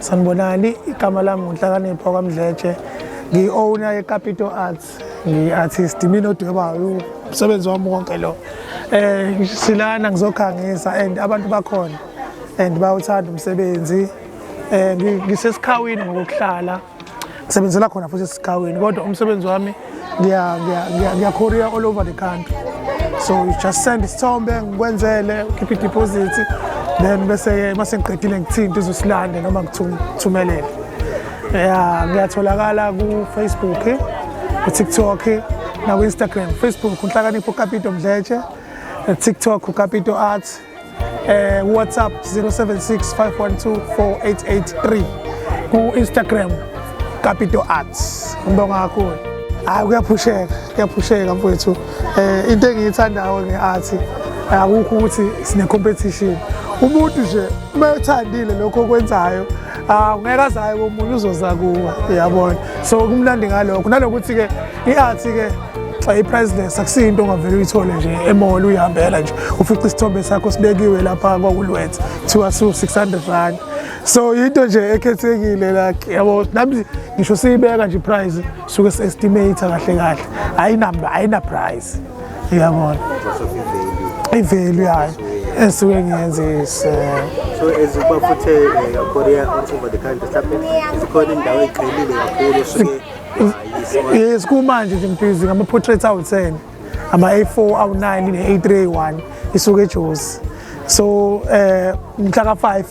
Sanibonani, igama lami nguNhlakanipho kwaMdletshe. Ngiyi-owner ye-Capital Arts, ngiyi-artist, mina odwebayo umsebenzi wami wonke lo. Eh silana ngizokhangisa and abantu bakhona and bawuthanda umsebenzi. Eh ngisesikhawini ngokuhlala sebenzela khona futhi esigaweni kodwa umsebenzi wami ngiyacourier all over the country so you just send isithombe ngikwenzele ukhiphe ideposit then bese-ke uma sengiqedile ngithinte uzosilande noma ngithumelele ya ngiyatholakala kufacebook kutiktok nakwi-instagram facebook unhlakanipho ukapito mdletshe tiktok ukapito arts eh WhatsApp 0765124883 ku Instagram Capito Arts ngibonga kakhulu hayi kuyaphusheka kuyaphusheka mfowethu eh into engiyithandayo ngeart akukho ukuthi sine competition umuntu nje uma uthandile lokho okwenzayo ah ungeke azayo komunye uzoza kuwe uyabona so kumnandi ngalokho nalokuthi ke I-arts ke xa i-priceless akusiyo into ongavele uyithole nje emall uyihambela nje ufica isithombe sakho sibekiwe lapha kwakulwetha kuthiwa siwu-600 rand so yinto nje ekhethekile like yabo nami ngisho siyibeka nje iprice suke si-estimate kahle kahle ayinamba ayina-price uyabona ivalue yayo esuke ngiyenzise so as uba futhi eh, korea all over the country mhlawumbe zikhona indawo egxilile kakhulu esuke yes kumanje nje ngibhizi ngama-portraits awu-10 ama-a4 awu-9 ne-a3 a1 isuke ejozi so um eh, mhla ka-5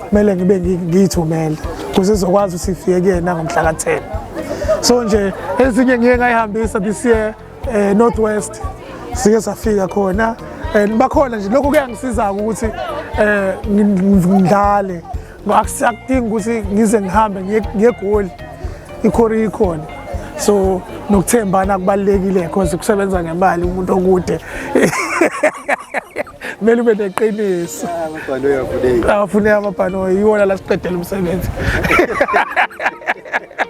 kumele ngibe ngiyithumele kuze izokwazi ukuthi ifike kuyena ngomhla ka-10 so nje ezinye ngiye ngayihambisa this year um eh, north west sike safika khona and bakhona nje lokho kuyangisiza-ke ukuthi um ngidlale Akusakudingi ukuthi ngize ngihambe ngegoli ikhori ikhona so nokuthembana kubalulekile because kusebenza ngemali umuntu okude kumele ube neqiniso awafuneki amabhanoyi iwona la siqedela umsebenzi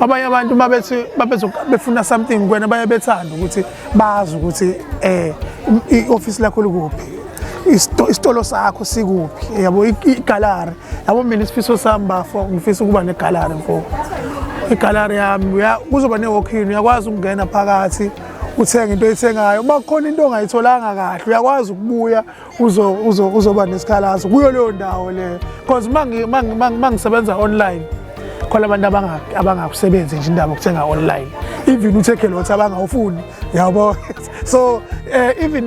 abanye abantu uma bethi befuna something kwena baye bethanda ukuthi bazi ukuthi eh i-office lakho likuphi isitolo sakho sikuphi yabo igalari yabo mina isifiso sami bafo ngifisa ukuba negalari mfo igalari yami kuzoba ne-walk-in uyakwazi ukungena phakathi uthenge into oyithengayo uma kukhona into ongayitholanga kahle uyakwazi ukubuya uzoba nesikhalazo kuyo leyo ndawo leyo because uma ngisebenza online khona abantu abangakusebenzi nje indaba okuthenga online even uthekhe lothi abangawufuni yabo so eh, even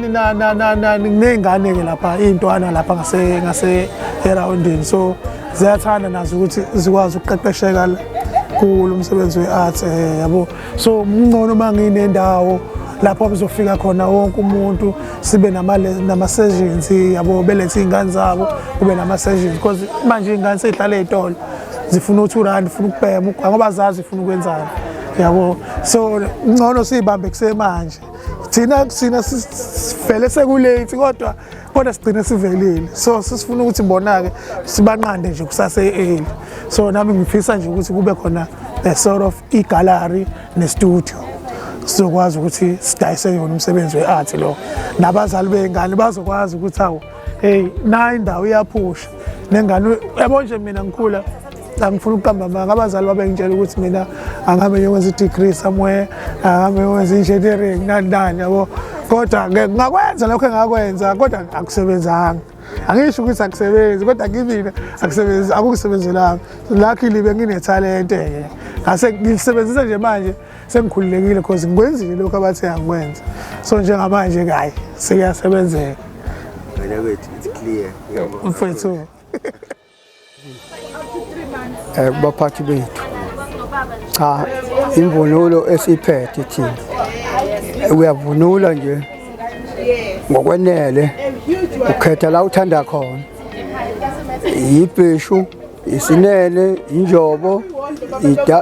ney'ngane-ke lapha iy'ntwana lapha ngase-erawundini so ziyathanda nazo ukuthi zikwazi ukuqeqesheka kulo umsebenzi we-art um eh, yabo so mncono uma nginendawo lapho bezofika khona wonke umuntu sibe nama-sessions yabo belethe iy'ngane zabo kube nama-sessions because manje iy'ngane sey'hlala ey'tolo zifuna u-two rand funa ukubhema ugwa ngoba zazi ifuna ukwenzani yabo so ngcono siyibambe kusemanje thina thina sivele sekulate kodwa kodwa sigcine sivelile so sisifuna ukuthi bona-ke sibanqande nje kusase-eli so nami ngifisa nje ukuthi kube khona a sort of igallery nestudio sizokwazi ukuthi sidayise yona umsebenzi we-art lo nabazali bey'ngane bazokwazi ukuthi awu heyi nayo indawo iyaphusha nengane yabo nje mina ngikhula angifuna ukuqamba amanga abazali babengitshela ukuthi mina angabe ngiyokwenza i-degree somewhere angabe ngiyokwenza i-engineering nani nani yabo kodwa ngakwenza lokho engakwenza kodwa akusebenzanga angisho ukuthi akusebenzi kodwa kimina akusebenzi akukusebenzelanga luckily benginethalente-ke ngase ngilisebenzisa nje manje sengikhululekile because ngikwenzile lokhu abathe angikwenza so njengamanje kayi sekuyasebenzeka mfethu Eh, kubaphathi bethu cha imvunulo esiphethe thina uyavunula nje ngokwenele ukhetha la uthanda khona yibheshu isinene injobo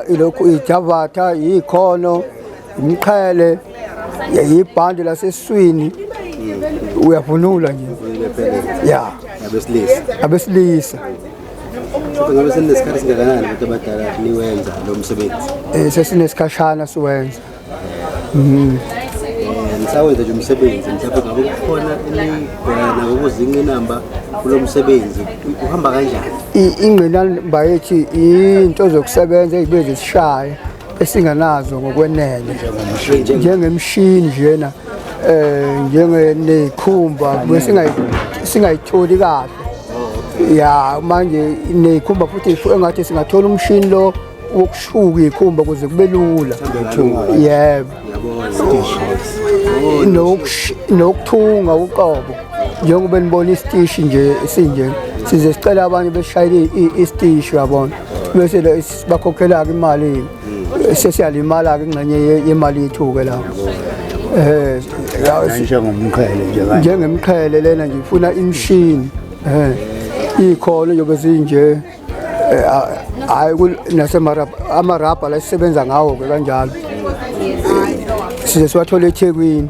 ilokhu ijavatha yikhono umqhele yibhande laseswini uyavunula nje ya abesilisa abesilisa ngabe seninesikhathi singakanani abantu abadala niwenza lo msebenzi um sesinesikhashana siwenza mhm. eh, nisawenza nje umsebenzi mhlawumbe ngabe kukhona enigona ukuzinqinamba kulo msebenzi uhamba kanjani ingqinamba yethu into zokusebenza ezibe zisishaye esinganazo ngokwenele njengemshini njena eh njengenekhumba singayitholi kahle ya manje nekhumba futhi engathi singathola umshini lo wokushuka ikhumba kuze kube lula yebo nokuthunga uqobo njengoba nibona isitishi nje sinje size sicela abanye beshayele isitishi yabona bese bakhokhela-ke imali hmm. sesiyalimala-ke ingxenye yemali yethu-ke lapho um njengomqhele njengemqhele lena nje ifuna imishini um iy'kholo yobe zinje eh, hhayi nasemarabha la sisebenza ngawo-ke kanjalo size siwathole ethekwini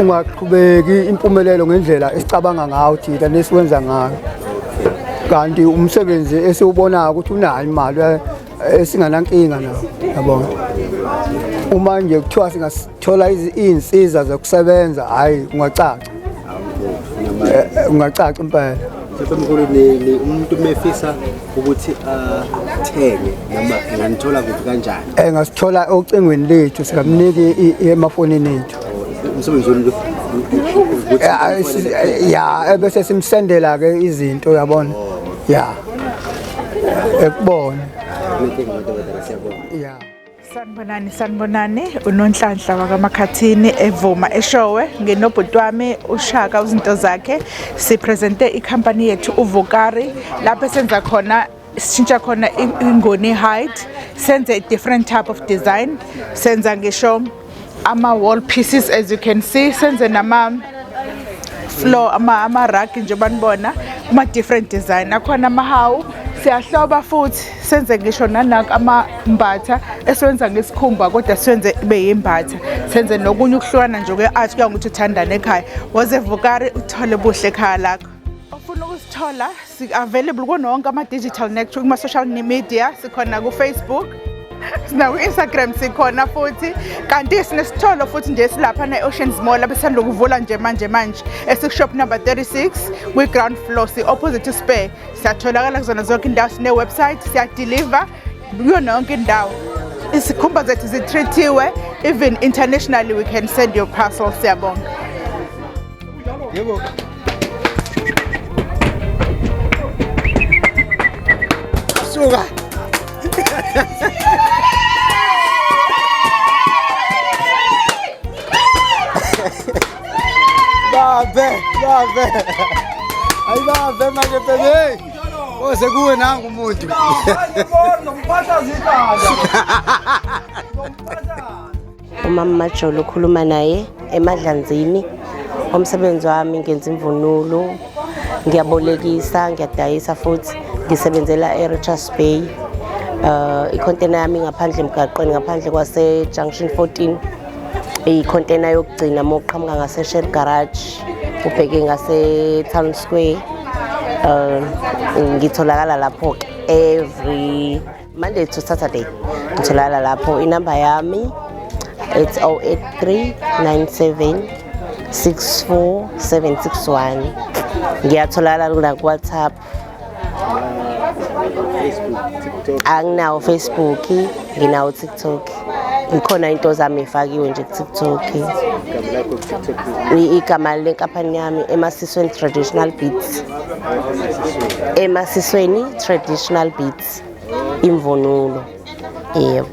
ungaqhubeki impumelelo ngendlela esicabanga ngayo thina nesiwenza ngayo kanti umsebenzi esiwubonayo ukuthi unayo imali eh, esinganankinga nawo yabona uma nje kuthiwa singathola izinsiza zokusebenza hayi ungacaca ungacaca impela umuntu mefisa ukuthi athenge noma enganithola kuphi kanjani engasithola eh, ocingweni lethu singamniki emafonini ethu umsebenzi wenu eh, ya ebese simsendela ke izinto uyabona oh. ya ekubona yeah Sanibonani sanibonani unonhlanhla wakaMakhathini evuma eshowe ngenobhuti wami uShaka uzinto zakhe sipresente icompany yethu uVukari lapho senza khona sishintsha khona ingoni height senze different type of design senza ngisho ama wall pieces as you can see senze nama floor ama ama rug nje banibona kuma different design akhona ama hawu siyahloba futhi senze ngisho nanaka amambatha esiwenza ngesikhumba kodwa siwenze ibe yimbatha senze nokunye ukuhlukana nje kwe-art kuya ngokuthi uthandane ekhaya woze vukari uthole buhle ekhaya lakho Ofuna ukusithola si-available kuno wonke ama-digital network kuma-social media sikhona ku-facebook sinaku-instagram sikhona futhi kanti sinesitholo futhi nje silapha ne-oceans mall abesithanda ukuvula nje manje manje esikushop number 36 kwi-ground floor si-opposite spare siyatholakala kuzona zonke indawo sine-website siyadeliver kuyona yonke indawo isikhumba zethu zitreatiwe even internationally we can send your parcel siyabonga Yebo. Suka. Babe, babe. Ay babe manje bebe. Oze kuwe nangu umuntu. Ngibona ngiphatha zidada. umama majolo ukhuluma naye emadlanzini umsebenzi wami ngenza imvunulo ngiyabolekisa ngiyadayisa futhi ngisebenzela e-richards bay um ikhontena yami ngaphandle emgaqweni ngaphandle kwase-junction 14 ikhontena yokugcina uma uqhamuka ngasesher garage ubheke ngase-town square um ngitholakala lapho-ke every Monday to Saturday ngitholakala lapho inamba yami it's 083 97 64 761 ngiyatholakala kuna WhatsApp anginawo Facebook nginawo TikTok ngikhona into zami ifakiwe nje ku-tiktok igama lenkampani yami emasisweni traditional beats emasisweni traditional beats imvunulo yebo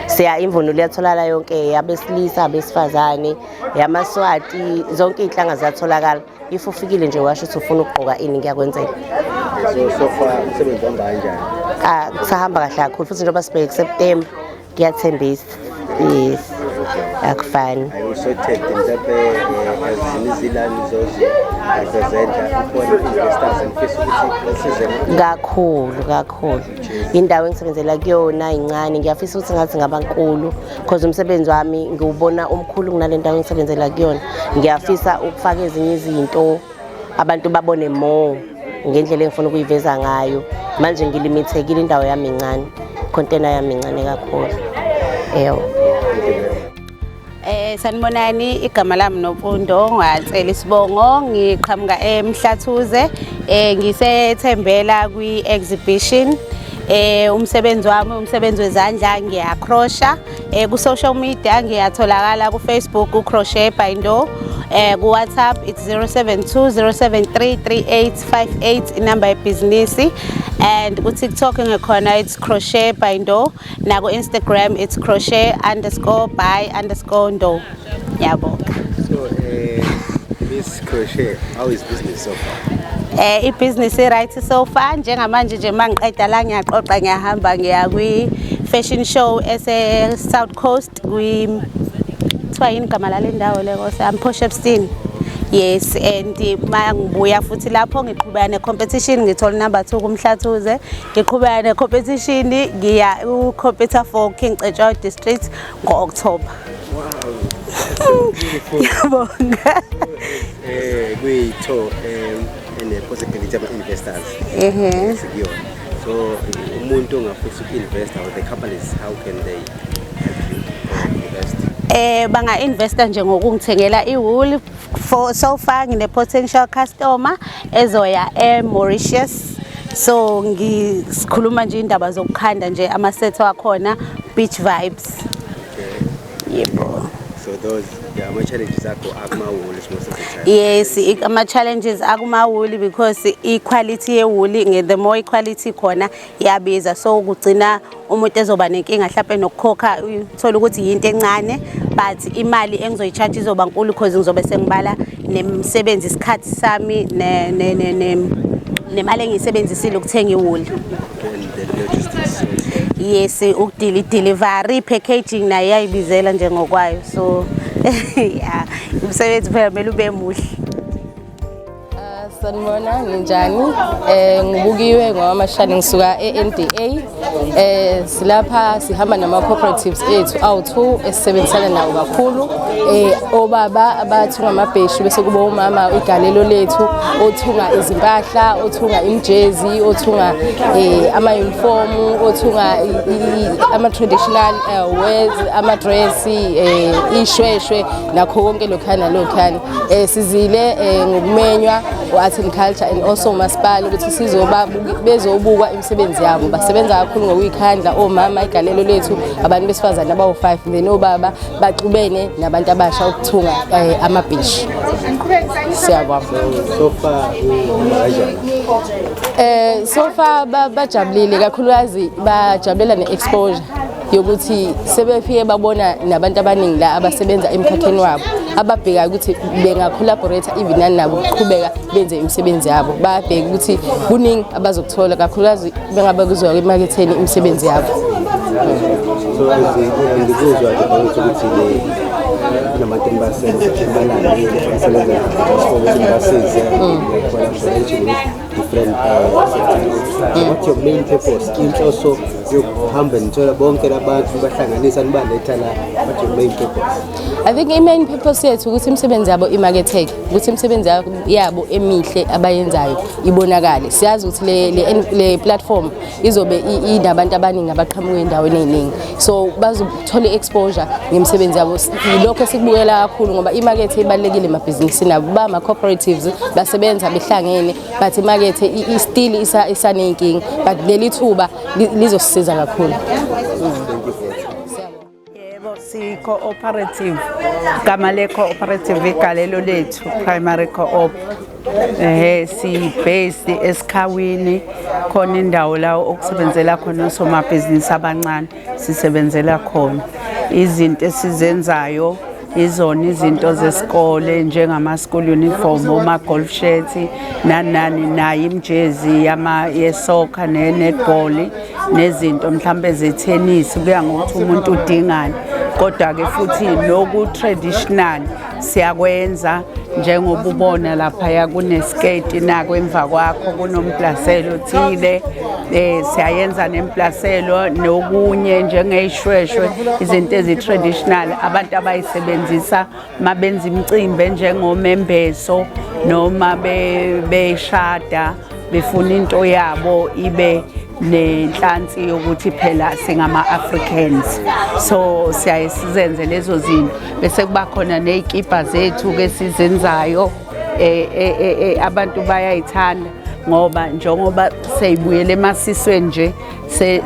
siya imvunulo yatholakala yonke yabesilisa abesifazane yamaswati zonke iy'nhlanga ziyatholakala if ufikile nje washo ukuthi ufuna ukugqoka ini kuyakwenzeka so so far umsebenzi wambanjani ah kusahamba kahle kakhulu futhi njengoba sibheke kuseptemba Kuyathembisa. Yes. Akufani. Kakhulu kakhulu. Indawo engisebenzela kuyona incane ngiyafisa ukuthi ngathi ngabankulu because umsebenzi wami ngiwubona umkhulu kunale ndawo engisebenzela kuyona. Ngiyafisa ukufaka ezinye izinto abantu babone more ngendlela engifuna ukuyiveza ngayo manje ngilimithekile indawo yami incane ikhontena yami incane kakhulu eyo Eh sanibonani igama lami Nopundo ngwacela isibongo ngiqhamuka eMhlathuze eh ngisethembela kwi exhibition eh umsebenzi wami umsebenzi wezandla ngiyacrosha Eh ku-social media ngiyatholakala ku-Facebook ku-crochet by Ndo eh ku-WhatsApp it's 0720733858 inamba yebhizinisi and ku-TikTok ngikhona it's crochet by Ndo naku-Instagram it's crochet underscore by underscore Ndo. Ngiyabonga. So eh Miss Crochet, how is business so far? Eh ibusiness right so far njengamanje nje mangiqeda la ngiyaxoxa ngiyahamba ngiya kwi fashion show ese South Coast kwi kuthiwa yini igama lalendawo le kose I'm Posh Epstein. yes and uma ngibuya futhi lapho ngiqhubeka ne-competition ngithola number two kumhlathuze ngiqhubeka ne-competition ngiya ucompeta for king cetshwayo district ngo-October. Ngiyabonga. Eh kuyitho eh ene possibility ama investors. Ehhe. Sikuyona. So umuntu ongafisa uku-investa or the companies how can they help you invest? Eh banga investa nje ngokungithengela iwool For so far ngine potential customer ezoya e Mauritius so ngikhuluma nje indaba zokukhanda nje ama set wakhona beach vibes yebo so those yeah, ama challenges akho akuma wool most of the time yes ama challenges akuma wool because i quality ye wool the more i quality khona yabiza so kugcina umuntu ezoba nenkinga mhlawumbe nokukhokha uthola ukuthi yinto encane but imali engizoyi-charge izoba nkulu because ngizobe sengibala nemsebenzi isikhathi sami nemali engiyisebenzisile ukuthenga iwuli yes ukudila i-delivery packaging nayo iyayibizela njengokwayo so ya umsebenzi phela kumele ube muhle sanibona ninjani um eh, ngubukiwe ngowamashane ngisuka e-n d a um eh, silapha sihamba nama-cooperatives ethu awu-two esisebenzisana nawo kakhulu um obaba abathunga amabheshu bese kuba umama igalelo lethu othunga izimpahla othunga imijezi othunga um amayunifomu othunga ama-traditional wes amadresi um ishweshwe nakho konke lokhana lokhana Eh sizile eh, ngokumenywa u-Art and Culture and also uMasipala ukuthi sizoba bezobukwa imisebenzi yabo. Basebenza kakhulu ngokuyikhandla omama igalelo lethu abantu besifazane abawu-5 then obaba baxubene nabantu abasha ukuthunga eh, amabhishi. Siyabonga. So far Eh so far ba- bajabulile kakhulukazi bajabulela ne-exposure. yokuthi sebefike babona nabantu abaningi la abasebenza emkhakheni wabo ababhekayo ukuthi bengacollaborate even nani nabo kuqhubeka benze imisebenzi yabo babheke ukuthi kuningi abazokuthola kakhulukazi bengabe kuzwa emaketheni imisebenzi yabo so ngikuzwa ke ukuthi le nabantu basebenza balandile basebenza basize different uh, mm. what your main purpose inhloso yokuhamba nithola bonke labantu bahlanganisa nibaletha la what your main purpose i think i main purpose yethu ukuthi imisebenzi yabo imarketeke ukuthi imisebenzi yabo emihle abayenzayo ibonakale siyazi ukuthi le, le, le platform izobe inabantu abaningi abaqhamuka endaweni eziningi so bazothola i-exposure ngemisebenzi yabo yilokho esikubukela kakhulu ngoba imakethe ibalulekile emabhizinisini abo ba ama-cooperatives basebenza behlangene but imakethe istili isaney'nkinga but leli thuba lizosisiza kakhulu Yebo si-cooperative gama le-cooperative igalelo lethu primary co-op ehe si-based esikhawini khona indawo la okusebenzela khona osomabhizinisi abancane sisebenzela khona izinto esizenzayo izona izinto zesikole njengama-school uniform oma-golf shirt nanani nayo imjezi yesoccer ne-netball nezinto mhlawumbe zethenisi kuya ngokuthi umuntu udingani kodwa-ke futhi noku-traditional siyakwenza njengoba ubona laphaya kunesketi nako emva kwakho kunombhlaselo othile Eh siyayenza nemplaselo nokunye njengeyishweshwe izinto ezitraditional abantu abayisebenzisa mabenza imicimbi njengomembeso noma beshada befuna into yabo ibe nenhlansi yokuthi phela singama-africans so siyaye sizenze lezo zinto bese kuba khona ney'kibha zethu-ke sizenzayo eh, eh, eh, eh abantu bayayithanda ngoba njengoba seyibuyele emasisweni nje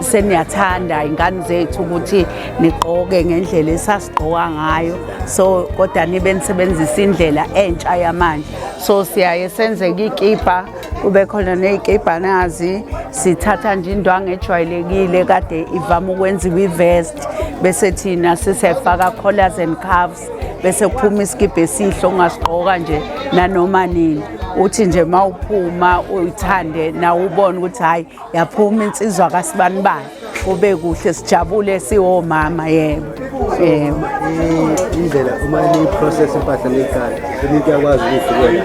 seniyathanda ingane zethu ukuthi nigqoke ngendlela esasigqoka ngayo so kodwa nibe nisebenzisa indlela entsha yamanje so siyaye senzeke ikibha kube khona ney'kibha nazi sithatha nje indwangu ejwayelekile kade ivama ukwenziwa ivest bese thina sisefaka collars and calves bese kuphuma isikibha esihle ongasigqoka nje nanoma nini uthi nje uma uphuma uyithande nawe ubone ukuthi hhayi yaphuma insizwa kasibani bani kube kuhle sijabule siwomama yebo yebo indlela uma niyiprocess impahla niyikhala umuntu uyakwazi ukuyifikela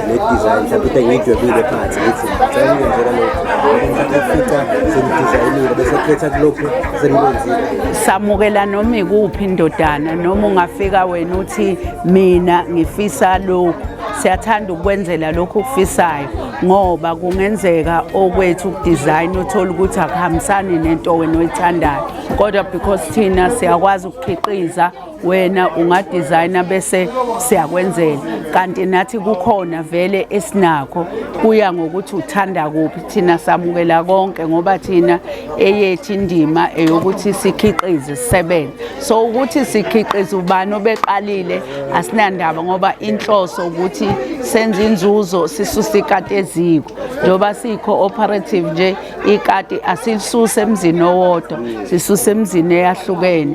le design mhlawumbe into engiyidwebile phansi ngithi ngicela ukwenzela lokhu ufica sengidizayinile bese khetha kulokhu sengikwenzile samukela noma ikuphi indodana noma ungafika wena uthi mina ngifisa lokhu siyathanda ukwenzela lokhu okufisayo ngoba kungenzeka okwethu ukudizayina uthole ukuthi akuhambisani nento wena oyithandayo kodwa because thina siyakwazi ukukhiqiza wena ungadesigner bese siyakwenzela kanti nathi kukhona vele esinakho kuya ngokuthi uthanda kuphi thina samukela konke ngoba thina eyethu indima eyokuthi sikhiqize sisebenze so ukuthi sikhiqize ubani obeqalile asinandaba ngoba inhloso ukuthi senze inzuzo sisuse ikati eziko njengoba siyi-cooperative nje ikati asilisuse emzini owodwa sisuse emzini eyahlukene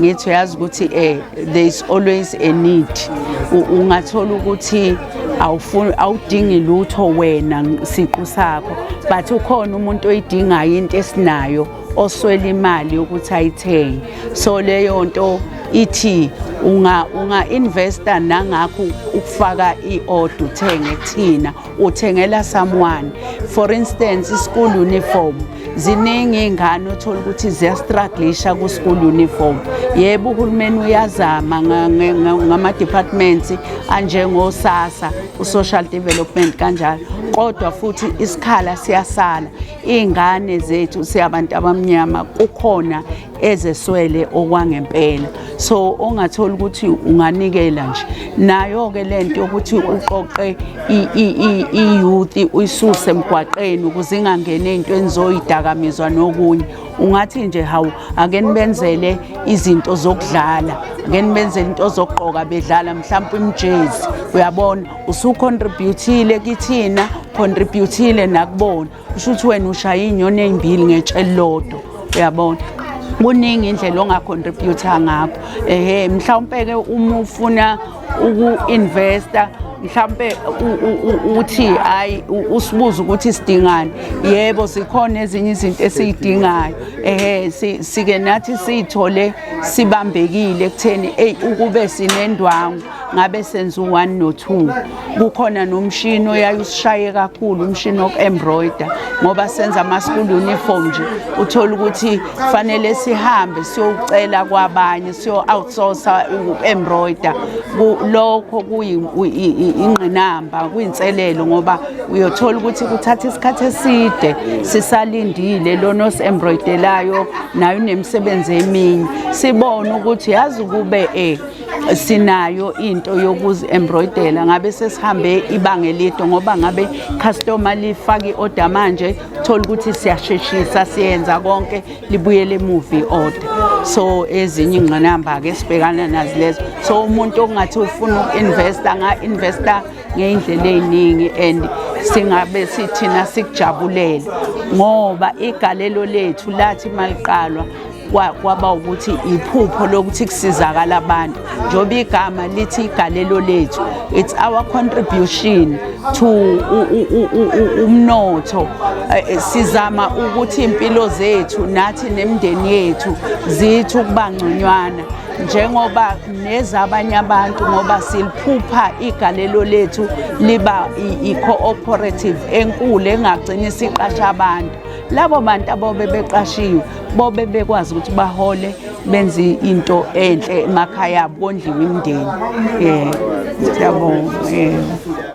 ngithi uyazi ukuthi eh there is always a need ungathola ukuthi awufuni awudingi lutho wena siqu sakho but ukhona umuntu oyidingayo into esinayo oswela imali yokuthi ayithenge so leyo nto ithi unga unga investa nangakho ukufaka iorder uthenge kuthina uthengela someone for instance i-school uniform ziningi iy'ngane othola ukuthi ziyastruglisha ku-school uniform yebo uhulumeni uyazama ngama-departments anjengosasa u-social development kanjalo kodwa futhi isikhala siyasala iy'ngane zethu siyabantu abamnyama kukhona ezeswele okwangempela so ongathola ukuthi unganikela nje nayo ke lento ukuthi uqoqe iyouth uyisuse emgwaqeni ukuze ingangene into enizoyidakamizwa nokunye ungathi nje hawu ake nibenzele izinto zokudlala ake nibenzele into zokugqoka bedlala mhlawumbe imjezi uyabona usucontributile kithina contributile nakubona kusho ukuthi wena ushaya iy'nyoni ey'mbili ngetshe lodwa uyabona kuningi indlela ongacontributa ngakho ehe mhlawumpe-ke uma ufuna uku-investa mhlambe uthi hayi usibuza ukuthi sidingani yebo sikhona ezinye izinto esiyidingayo ehe sike nathi siyithole sibambekile ekutheni eyi ukube sinendwangu ngabe senza u-one no-two kukhona nomshini oyaye usishaye kakhulu umshini woku-embroider ngoba senza ama-school uniform nje uthole ukuthi fanele sihambe siyowucela kwabanye siyo-outsourca uku-embroider lokho kuyingqinamba kuyinselelo ngoba uyothola ukuthi kuthatha isikhathi eside sisalindile lona osi-embroidelayo naye unemisebenzi eminye sibone ukuthi yazi kube um sinayo into yokuzi-embroidela ngabe sesihambe ibanga elide ngoba ngabe customer lifake i-order manje thola ukuthi siyasheshisa siyenza konke libuyele emuva i-order so ezinye ingqinamba-ke sibhekana nazi lezo so umuntu okungathi ufuna uku-investa nga-investa ngey'ndlela ey'ningi and singabe sithina sikujabulele ngoba igalelo lethu lathi maliqalwa kwaba ukuthi iphupho lokuthi kusizakala abantu njengoba igama lithi igalelo lethu it's our contribution to umnotho eh, eh, sizama ukuthi impilo zethu nathi nemndeni yethu zithi ukuba ngconywana njengoba nezabanye abantu ngoba siliphupha igalelo lethu liba i-cooperative enkulu engagcini siqasha abantu labo bantu abobe beqashiwe bobe bekwazi ukuthi bahole benze into enhle emakhaya abo kondliwe imndeni um siyabonga um